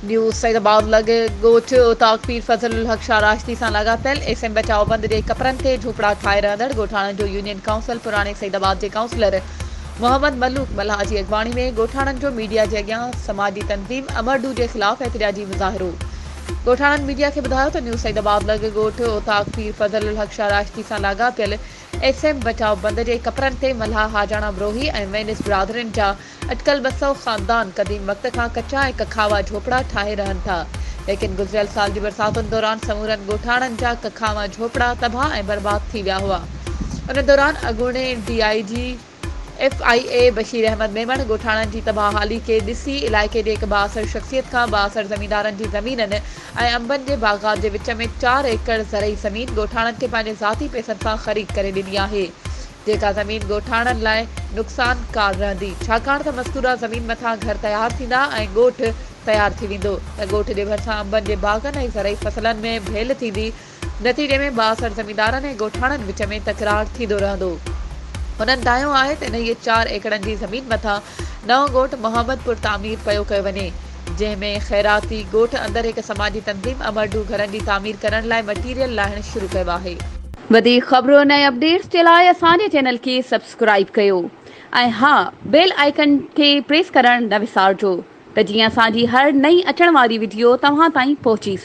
News Syedabad لڳ ڳوٺ اوطاق پير فضل الحق شاهه راشدي سان لاڳاپيل ايس ايم بچاء بند جي ڪپرن تي جهوپڙا ٺاهي رهندڙ ڳوٺاڻن جو يونين ڪائونسل پراڻي سيد آباد جي ڪائونسلر محمد ملوڪ ملاح جي اڳواڻي ۾ ڳوٺاڻن جو ميڊيا جي اڳيان سماجي تنظيم امرڊو جي خلاف احتجاجي مظاهرو ڳوٺاڻن ميڊيا کي ٻڌايو ته نيو سيد آباد لڳ ڳوٺ اوطاق پير فضل الحق شاهه راشدي سان لاڳاپيل ايس ايم بچاء بند جي ڪپرن تي ملاح حاجاڻا بروهي ۽ وينس برادرين جا اٽڪل ٻه سؤ خاندان قديم وقت کان ڪچا ۽ ڪکاوا جهوپڙا ٺاهي رهن ٿا ليڪن گذريل سال جي برساتن دوران سمورن ڳوٺاڻن جا ڪکاوا جهوپڙا تباهه ۽ برباد ٿي ويا هئا ان دوران اڳوڻي D I G F I A Bashir Ahmed Memon ڳوٺاڻن جي تباهه حالي کي ڏسي علائقي جي هڪ بااثر شخصيت کان بااثر زميندارن جي زمينن ۽ انبن جي باغات جي وچ ۾ چار ايڪڙ زرعي زمين ڳوٺاڻن کي پنهنجي ذاتي پئسن سان خريد ڪري ڏني آهي جيڪا زمين ڳوٺاڻن لاء نقصان ڪار رهندي ڇاڪاڻ ته مذڪوره زمين مٿان گهر تيار ٿيندا ۽ ڳوٺ تيار ٿي ويندو ته ڳوٺ جي ڀرسان انبن جي باغن ۽ زرعي فصلن ۾ ڀيل ٿيندي نتيجي ۾ بااثر زميندارن ۽ ڳوٺاڻن وچ ۾ تڪرار ٿيندو رهندو. هنن دانهيو آهي ته انهيء چار ايڪڙن جي زمين مٿان نئون ڳوٺ محمد پور تعمير پيو ڪيو وڃي، جنهن ۾ خيراتي ڳوٺ اندر هڪ سماجي تنظيم امرڊو گهرن جي تعمير ڪرڻ لاء مٽيريل لاهڻ شروع ڪيو آهي. وڌيڪ خبرن ۽ اپڊيٽس جي لاء اسان جي چينل کي سبسڪرائيب ڪيو ۽ ها بيل آئيڪن کي پريس ڪرڻ نه وسارجو ته جيئن اسان جي هر نئين اچڻ واري وڊيو توهان تائين پهچي سگهي.